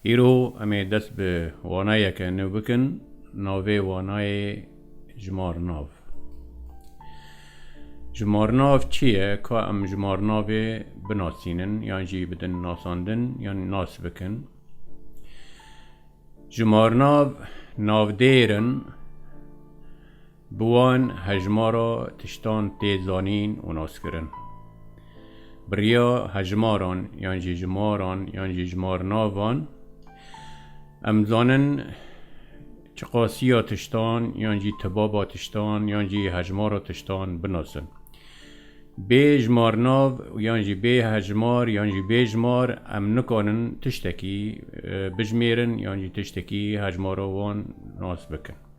Îro em ê dest bi wanayeke nû bikin, navê wanayê Jimarnav. Jimarnav çi ye? Ka em jimarnavê binasînin yan jî bidin nasandin yan nas bikin. Jimarnav navdêr in. Bi wan hejmara tiştan tê zanîn û naskirin. Bi riya hejmaran yan jî jimaran yan jî jimarnavan em dizanin çiqasiya tiştan yan jî tibaba tiştan yan jî hejmara tiştan binasin. Bê jimarnav yan jî bê hejmar yan jî bê jimar em nikanin tiştekî bijimêrin yan jî tiştekî hejmara wan nas bikin.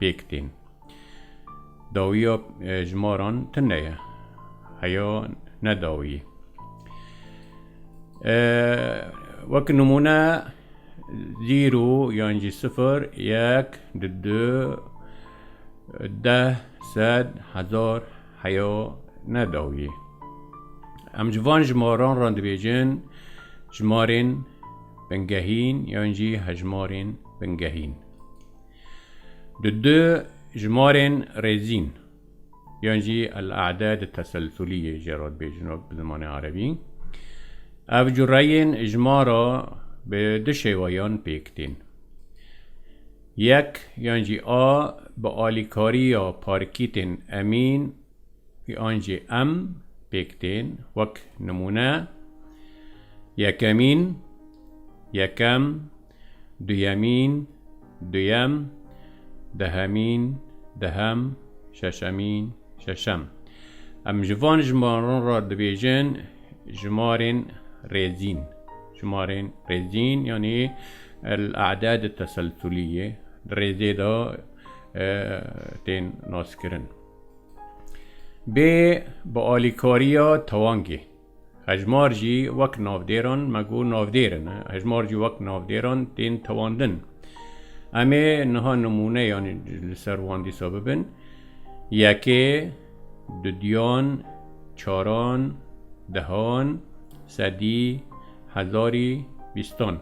pêk tên. Dawiya ji maran tune ye. Heya ne dawiyê. Wek nimûne zîro yan jî sifir, yek, di du, deh, sed, hezar heya ne dawiyê. Em ji van ji maran re dibêjin ji marên bingehîn yan jî hejmarên bingehîn. Di du jimarên rêzîn yan jî el-e'dad teselsulî yê jê re dibêjin bi zimanê erebî. Ev cureyên jimara bi du şêweyan pêk tên. Yek yan jî a bi alîkariya parkîtên emîn Wî ancî em pêk tên, wek nimûne, yekemîn, yekem, duyemîn, duyem, dehemîn, dehem, şeşemîn, şeşem. Em ji van jimaran re dibêjin jimarên rêzîn. Jimarên rêzîn yanî el-e'dad-i teselsulî ye. Di rêzê de tên naskirin. Bê bi alîkariya tewangê. Hejmar jî wek navdêran me got navdêr in. Hejmar jî wek navdêran tên tewandin. Em ê niha nimûneyan li ser wan dîsa bibin. Yekê, dudyan, çaran, dehan, sedî, hezarî, bîstan.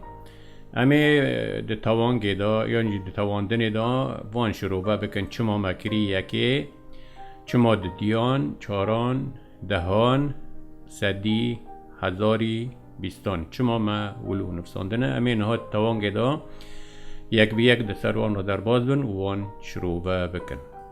Em ê di tewangê de yan jî di tewandinê de van şirove bikin çima me kirî yekê, çima di diyan, çaran, dehan, sedî, hezarî, bîstan çima me wil û nivsandine. Em ê niha di tewangê de yek bi yek di ser wan re derbas bin û wan şirove bikin.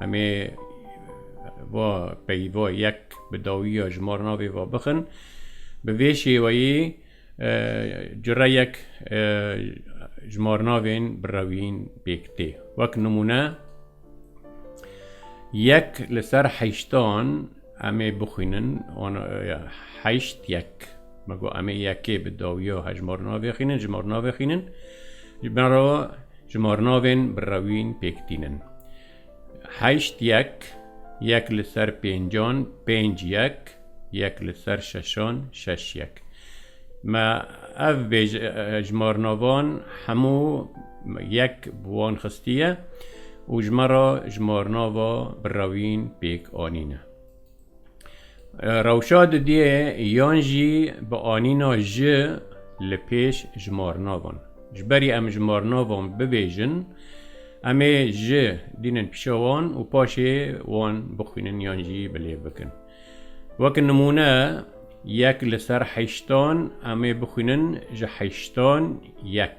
Emê va peyva yek bi dawiya ji mar navê va bixin. Bi vê şêweyê cureyek ji mar navên bi rewîn pêk tê. Wek nimûne yek li ser heştan emê bixwînin heşt yek. Me got emê yekê bi dawiya hejmar navê xînin ji mar navê xînin. Ji bin re Ji marnavên bi rewîn pêk tînin. Heşt yek, yek li ser pêncan, pênc yek, yek li ser şeşan, şeş yek. Me ev bêj ji marnavan hemû yek bi wan xistiye û ji me re ji marnava bi rewîn pêk anîne. Rewşa didiyê yan jî bi anîna ji li pêş ji marnavan. Ji berî em ji marnavan bibêjin, em ê ji dînin pîşa wan û paşê wan bixwînin yan jî bi lêv bikin. Wek nimûne yek li ser heştan em ê bixwînin ji heştan yek.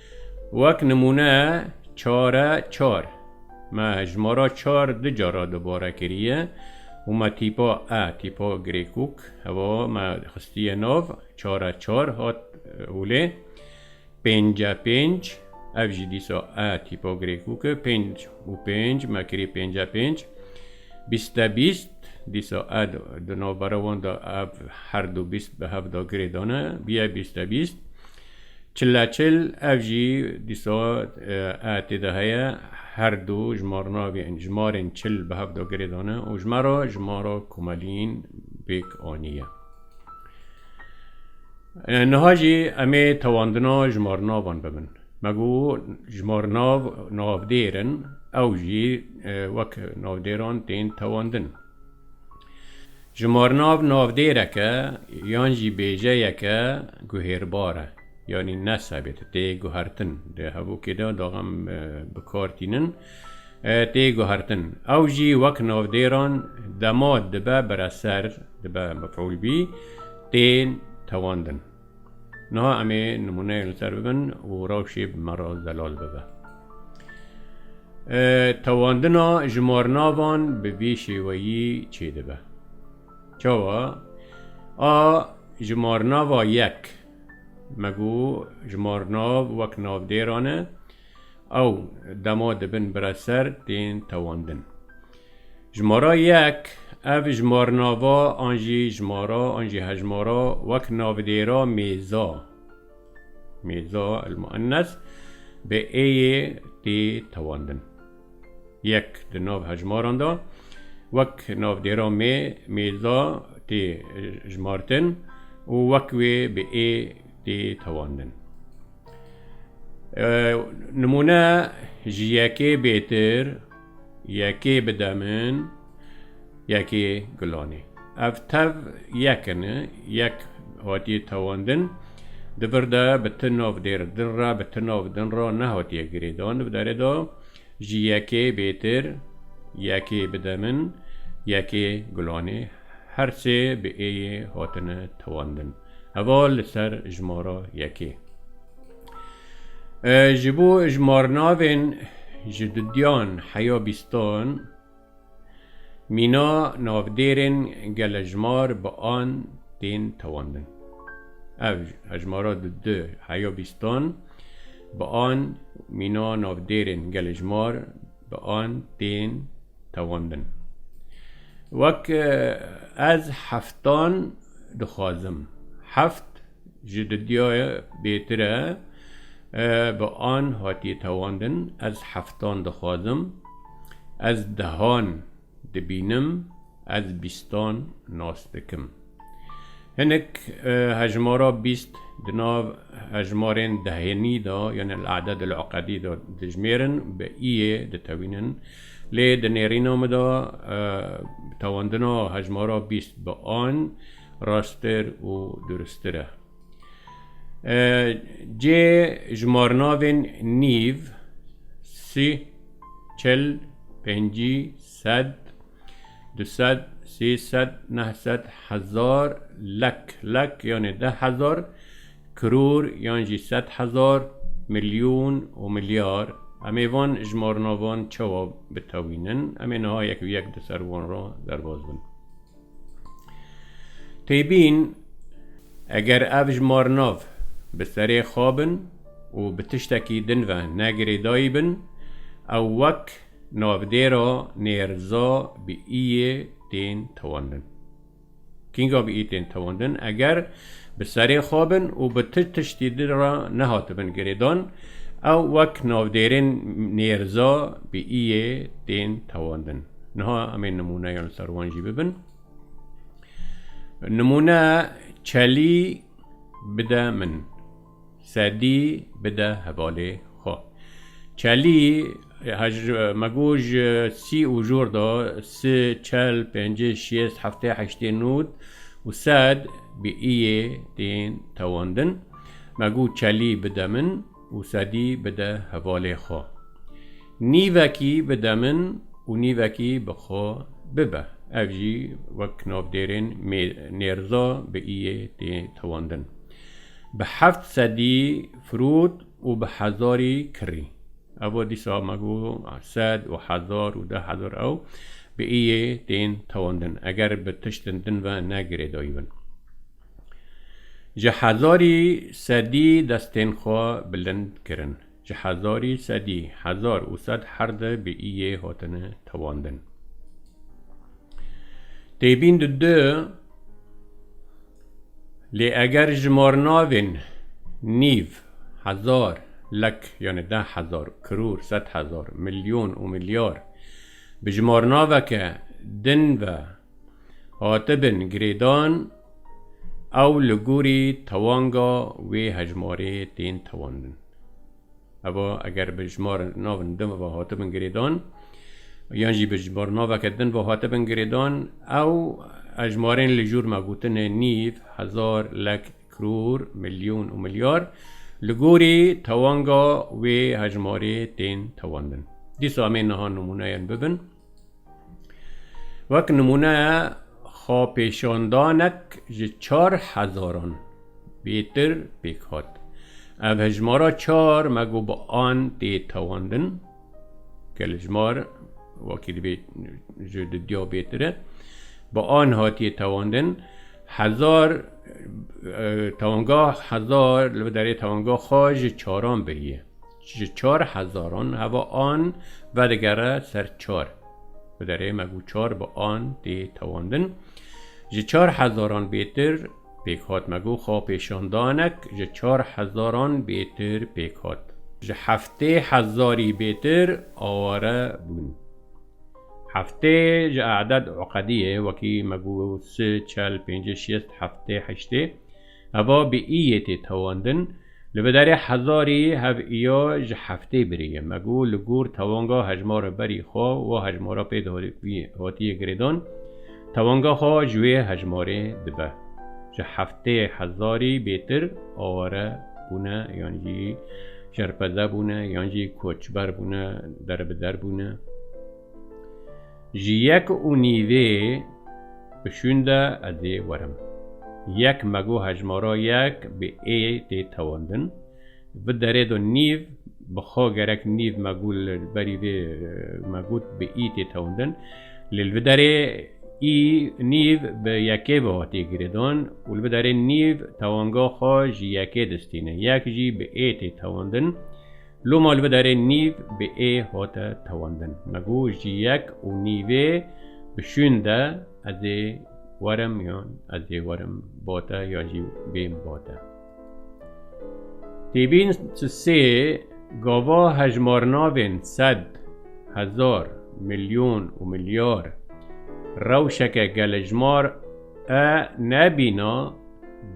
Wek nimûne çare çar, me hejmara çar du cara dubare kiriye û me tîpa e, tîpa Grêkûk, hewa me xistiye nav, çare çar hat holê. Pênce pênc, ev jî dîsa e, tîpa Grêkûk e, pênc û pênc me kirî pênce pênc. Bîste bîst, dîsa e di navbera wan de ev her du bîst bi hev de girê dane, bîye bîste bîst. Çileçil, ev jî dîsa AT de heye, her du jimarnavên jimarên çil bi hevda girê dane û ji me re jimara komeliyên pêk aniye. Niha jî em ê tewandina jimarnavan bibin. Me got jimarnav navdêr in, ew jî wek navdêran tên tewandin. Ji marnav navdêreke yan jî bêjeyeke guhêrbar e, yanî nesebit, tê guhertin, di hevokê de daxan bi kar tînin, tê guhertin. Ew jî wek navdêran dema dibe bire ser, dibe mef'ûl bî, tên tewandin. Niha em ê nimûneyek li ser bibin û rewşê bi me re zelal bibe. Tewandina jimarnavan bi vî şêweyî çêdibe. Çawa? A jimarnava yek me got jimarnav wek navdêran e, Ew dema dibin bire ser tên tewandin. Jimara yek, Ev jimarnava an jî jimara an jî hejmara wek navdêra mêza, mêza elmuennes, bi êyê tê tewandin. Yek di nav hejmaran de wek navdêra mê, mêza, tê jimartin û wek wê bi ê tê tewandin. Nimûne ji yekê bêtir, yekê bi demin, yekê gulanê. Ev tev yekin e, yek hatiye tewandin. Di vir de bi ti nav dêr din re, bi ti nav din re nehatiye girêdan. Di derê de ji yekê bêtir, yekê bi demin, yekê gulanê. Her sê bi êyê hatine tewandin. Heva li ser jimara yekê. Ji bo jimarnavên ji dudiyan heya bîstan mîna navdêrên gelejimar bi an tên tewandin. Ev jimara di du heya bîstan bi an mîna navdêrên gelejimar bi an tên tewandin. Wek ez heftan dixwazim, heft ji didya bêtir e, bi an hatiye tewandin, ez heftan dixwazim, ez dehan. Dibînim ez bîstan nas dikim. Hinek hejmara bîst di nav hejmarên dehenî de yan el-aded el-ukadî de dijmêrin bi îyê ditewînin. Lê di nêrîna min de tewandina hejmara bîst bi an rasttir û durustir e. Cê jimarnavên nîv, sî, Çil, pêncî, sed, du sed, sê sed, neh sed, hezar, lek, lek yanê deh hezar, kiror yan jî sed hezar, milyon û milyar. Em ê van jimarnavan çawa bitewînin? Em ê niha yek bi yek di ser wan re derbas bin. Têbîn, Eger ev ji marnav bi serê xwe bin û bi tiştekî din ve ne girêdayî bin, ew wek navdêra nêrza bi iyê tên tewandin. Kînga bi iyê tên tewandin? Eger Bi serê xwe bin û bi tu tiştî din re nehatibin girêdan, ew wek navdêrên nêrza bi iyê tên tewandin. Niha em ê nimûneyan li ser wan jî bibin. Nimûne çelî bide min. Sedî bide hevalê xwe. Çelî hej me got ji sî û jor de si, çel, pêncê, şêst, heftê, heştê, nod û sed bi iyê tên tewandin. Me got çelî bide min û sedî bide hevalê xwe. Nîvekî bide min û nîvekî bi xwe bibe. Ev jî wek navdêrên Nêrza bi îyê tê tewandin. Bi heft sedî firût û bi hezarî kirî. Evo dîsa me got sed û hezar û deh hezar ew bi îyê tên tewandin eger bi tiştin din ve ne girêdayî bin. Ji hezarî sedî destên xwe bilind kirin. Ji hezarî sedî hezar û sed her di bi î yê hatine tewandin. Têbîn di di lê eger jimarnavên nîv, hezar, lek yanê deh hezar, kirûr, sed hezar, milyon û milyar bi jimarnaveke din ve hatibin girêdan ew li gorî tewanga wê hejmarê tên tewandin. Eva eger bi jmar navin din ve hatibin girêdan yan jî bi jmar naveke din ve hatibin girêdan ew hejmarên li jûr me gotinê nîv, hezar, lek, kiror, milyon û milyar li gorî tewanga wê hejmarê tên tewandin. Dîsa em ê niha nimûneyên bibin. Wek nimûne xwepêşandanek ji çar hezaran bêtir pêk hat. Ev hejmara çar me got bi an tê tewandin ke li jmar wekî divê ji didiya bêtir e. Bi an hatiye tewandin hezar tewanga hezar li bi derê tewanga xwe ji çaran biriye. Ji çar hezaran heva an vedigere ser çar. Bi derê me gû çar bi an tê tewandin. Ji çar hezaran bêtir pêk hat me gû xwepêşandanek ji çar hezaran bêtir pêk hat. Ji heftê hezarî bêtir aware bûn. Heftê ji e'ded uqedî ye wekî me gû si, çel, pêncî, şêst, heftê, heştê. Eva bi î yê tê tewandin, li biderê hezarî hev îya ji heftê birî ye. Me got li gor tewanga hejmara berî xwe wa hejmara pê hatiye girêdan, tewanga xwe ji wê hejmarê dibe. Ji heftê hezarî bêtir aware bûne yan jî şerpeze bûne yan jî koçber bûne, derbider bûne. Ji yek û nîvê bi şûn de ez ê werim. Yek me got hejmara yek bi ê tê tewandin. Vi derê de nîv bi xwe gerek nîv me got li berî vê me got bi î tê tewandin. Lê li vi derê î nîv bi yekê ve hatiye girêdan û li vi derê nîv tewanga xwe ji yekê distîne. Yek jî bi ê tê tewandin. Lo ma li vê derê nîv bi ê hate tewandin. Me got ji yek û nîvê bi şûn de ez ê werim yan ez ê werim bate ya jî bêm bate. Tê bîn tu sê gava hejmarnavên sed, hezar, milyon û milyar rewşeke gelejmar e nebîna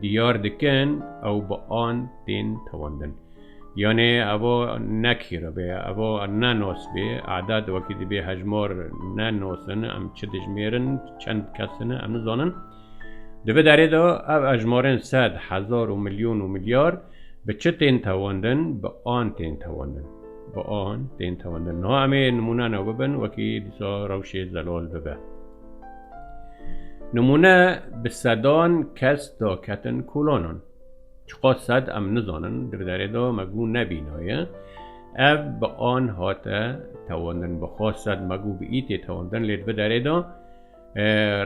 diyar dikin ew bi an tên tewandin. Yanê evo ne kîro bê, evo ne nos bê. Adad wekî dibê hejmar ne nos in, em çi dijmêrin, çend kes in em nizanin. Di vi derê de ev hejmarên sed, hezar û milyon û milyar bi çi tên tewandin, bi an tên tewandin. Bi an tên tewandin. Niha em ê nimûne ne bibin wekî dîsa rewşê zelal bibe. Nimûne bi sedan kes daketin kolanan. Çiqa sed em nizanin di derê de me gû nebînaye. Ev bi an hate tewandin. Bixa sed me gû bi îtê tewandin lê di bi derê de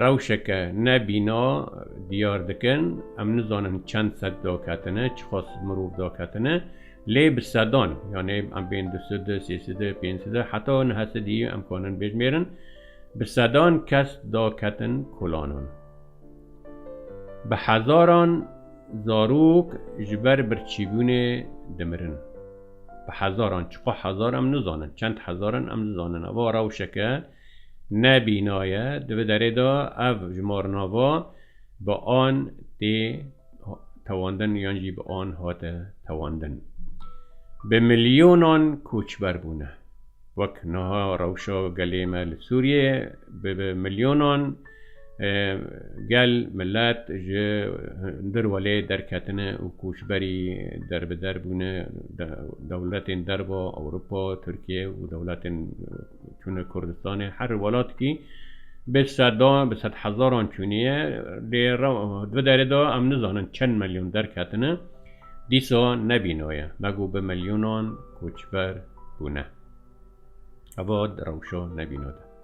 rewşeke nebîna diyar dikin. Em nizanin çend sed daketine, çiqa sed mirov daketine. Lê bi sedan yanê em bên du side, sê side, pênc side heta nehe sidî em kanin bêjmêrin. Bi sedan kes daketin kolanan. Bi hezaran zarok ji ber birçîbûnê dimirin. Bi hezaran, çiqas hezar em nizanin, çend hezar in em nizanin. Ev a rewşeke ne bîna ye. Di vê derê de ev jimarnava bi an tê tewandin yan jî bi an hate tewandin. Bi milyonan koçber bûne. Wek niha rewşa gelê me li Sûriyeyê bi milyonan Gel, milet ji hundir welê derketine û koçberî derbider bûne. Dewletên derva, Ewropa, Tirkiye û dewletên çûne Kurdistanê. Her welatikî bi sedan, bi sedhezaran çûniye. Lê di derê de em nizanin çend milyon derketine. Dîsa ne vîna ye. Me got bi milyonan koçber bûne. Heva di rewşa ne vîna de.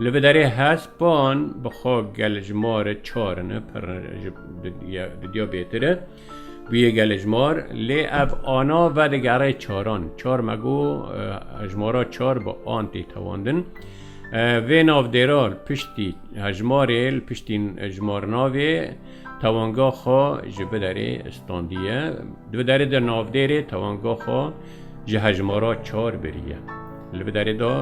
Li vê derê hespan bi xwe gelê ji marê çar in, pir di diya bêtir e. Bûye gelê ji mar, lê ev ana vedigerê çaran. Çar me got, hejmara çar bi an tê tewandin. Vê navdêra li piştî hejmarê, li piştî jimarnavê tewanga xwe ji vê derê standiye. Di vê derê de navdêrê tewanga xwe ji hejmara çar biriye. Li vê derê de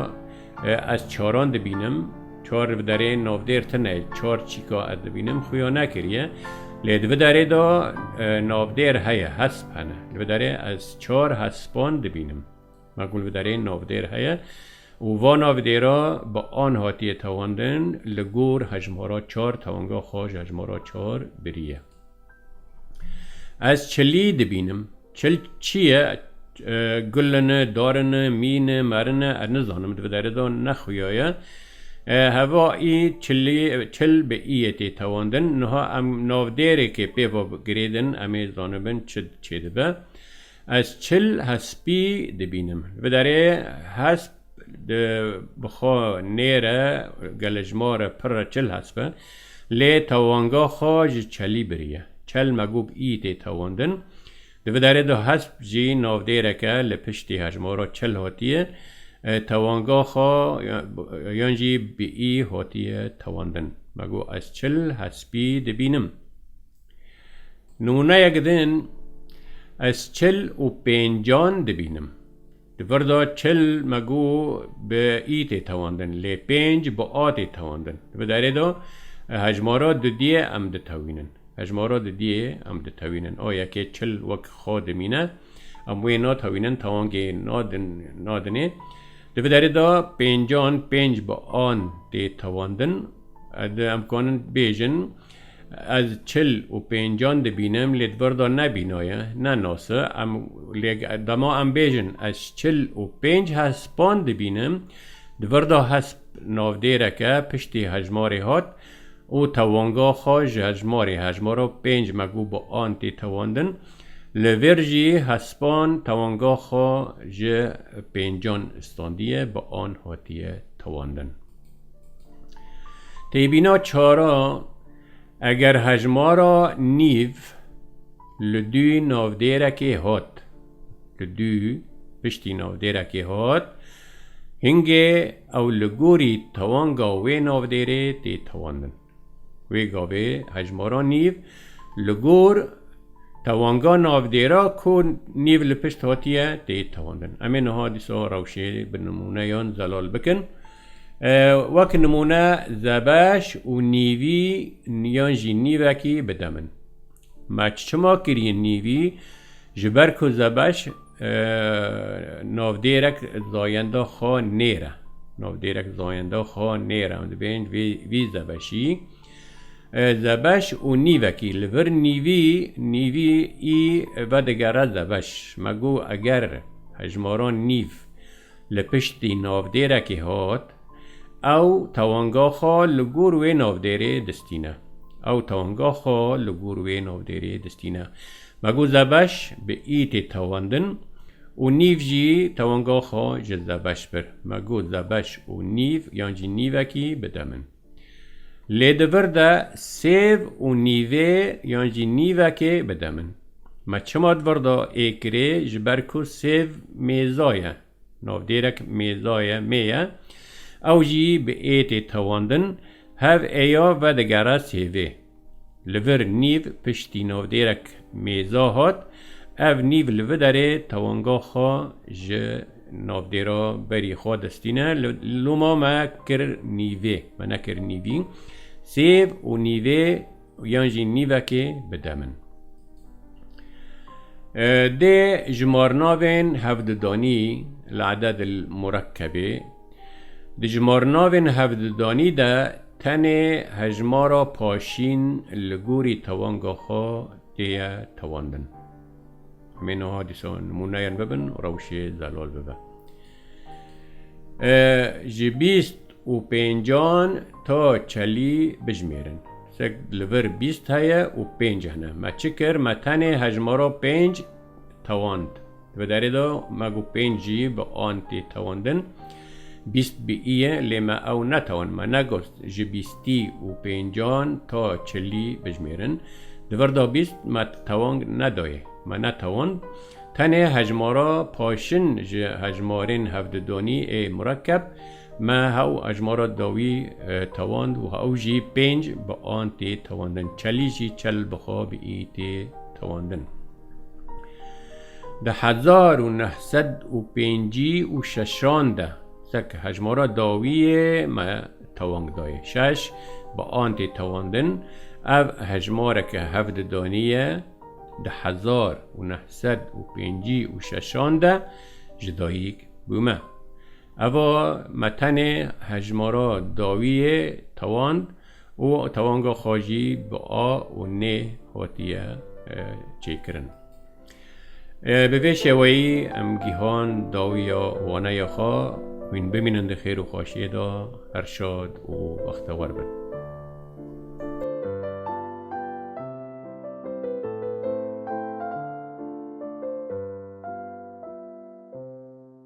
Ez çaran dibînim, çar li vîderê navdêr tune çar çîka ez dibînim xuya nekiriye. Lê di vîderê de navdêr heye, hesp hene. Li vîderê ez çar hespan dibînim. Me ku li vîderê navdêr heye û van navdêra bi an hatiye tewandin li gor hejmara çar tewanga xwe ji hejmara çar biriye. Ez çilî dibînim. Çil çi ye? Gulin e, darin e, mîn e, merin e, ez nizanim, di bi derê de nexuya ye. Heva î çilî, çil bi îyê tê tewandin. Niha em navdêrekê pê ve girêdin, em ê zanibin çi çêdibe. Ez çil hespî dibînim. Li derê hesp di bi xwe nêre gelê ji ma re pir re çil hesp e. Lê tewanga xwe ji çelî biriye. Çel megûb î tê tewandin. Di vi derê de hesp jî navdêreke li piştî hejmara çil hatiye tewanga xwe yan jî bi î hatiye tewandin. Me got ez çil hespî dibînim. Nimûneyek din, ez çil û pêncan dibînim. Di vir de çil me got bi î tê tewandin lê pênc bi a tê tewandin. Di derê de hejmara dudiyê em ditewînin. Hejmara dudiyê em ditewînin. A yekê çil wek xwe dimîne. Em wê natewînin tewangê nadinê. Di vir derê de pêncan pênc bi an tê tewandin. Em dikarin bêjin. Ez çil û pêncan dibînim lê di vir de nebînaye, ne nas e. Em lê dema em bêjin ez çil û pênc hespan dibînim, di vir de hesp navdêrek e piştî hejmarê hat û tewanga xwe ji hejmarê hejmara pênc me got bi an tê tewandin. Li vir jî hespan tewanga xwe ji pêncan standiye bi an hatiye tewandin. Têbîna çara eger hejmara nîv li dû navdêrekê hat li dû piştî navdêrekê hat hingê ew li gorî tewanga wê navdêrê tê tewandin. Wê gavê hejmara nîv li gor tewanga navdêra ku nîv li pişt hatiye tê tewandin. Em ê niha dîsa rewşê bi nimûneyan zelal bikin. Wek nimûne zebeş û nîvî yan jî nîvekî bide min. Maç çima kiriye nîvî? Ji ber ku Zebeş navdêrek zayenda xwe nêre. Navdêrek zayenda xwe nêre em dibêjin vî Zebeşî. Zebeş û nîvekî li vir nîvî nîvî î vedigere Zebeş. Me got eger hejmaran nîv Li piştî navdêrekê hat, ew tewanga xwe li gor wê navdêrê distîne. Ew tewanga xwe li gor wê navdêrê distîne. Me got Zebeş bi î tê tewandin û nîv jî tewanga xwe ji Zebeş bir. Me got Zebeş û nîv yan jî nîvekî bide min. Lê di vir de sêv û nîvê yan jî nîvekê bide min. Me çima di vir de ê kirê ji ber ku sêv mêza ye, navdêrek mêza ye, mê ye, ew jî bi ê tê tewandin, hev ê ya vedigere sêvê. Li vir nîv piştî navdêrek mêza hat. Ev nîv li viderê tewanga xwe ji navdêra berî xwe destîne. Loma me kir nîvê, me nekir nîvî. Sêv û nîvê yan jî nîvekê bi dem in. Dê ji marnavên hevdidanî li eded il murekkebê, Di jimarnavên hevdidanî de tenê hejmara paşîn li gorî tewanga xwe tê ye tewandin. Em ê niha dîsa nimûneyên bibin û rewşê zelal bibe. Ji bîst û pêncan ta çelî bijimêrin. Sek li vir bîst heye û pênc hene. Me çi kir? Me tenê hejmara pênc tewand. Di vê derê de me ku pênc jî bi an tê tewandin, bîst bi ii ye lê me ew netewand. Me negot ji bîstî û pêncan ta çilî bijimêrin. Di vir de bîst me tewang nedaye. Me netewand. Tenê hejmara paşin ji hejmarên hevdudanî ê murekkeb Me hew hejmara dawî tewand û hew jî pênc bi an tê tewandin. Çelî jî çel bi xwe bi î tê tewandin. Di hezar û neh sed û pêncî û şeşan de seke hejmara dawiyê me tewang dayê. Şeş bi an tê tewandin. Ev hejmareke hevdidanî ye. Di hezar û neh sed û pêncî û şeşan de ji dayîk bûme. Eva me tenê hejmara dawî yê tawan û tawanga xwe jî bi a û nê hatiye çêkirin. Bi vê şeweyî em gihan dawiya waneya xwe hûn bimînin di xêr û xweşiyê de her şad û bextewer bin.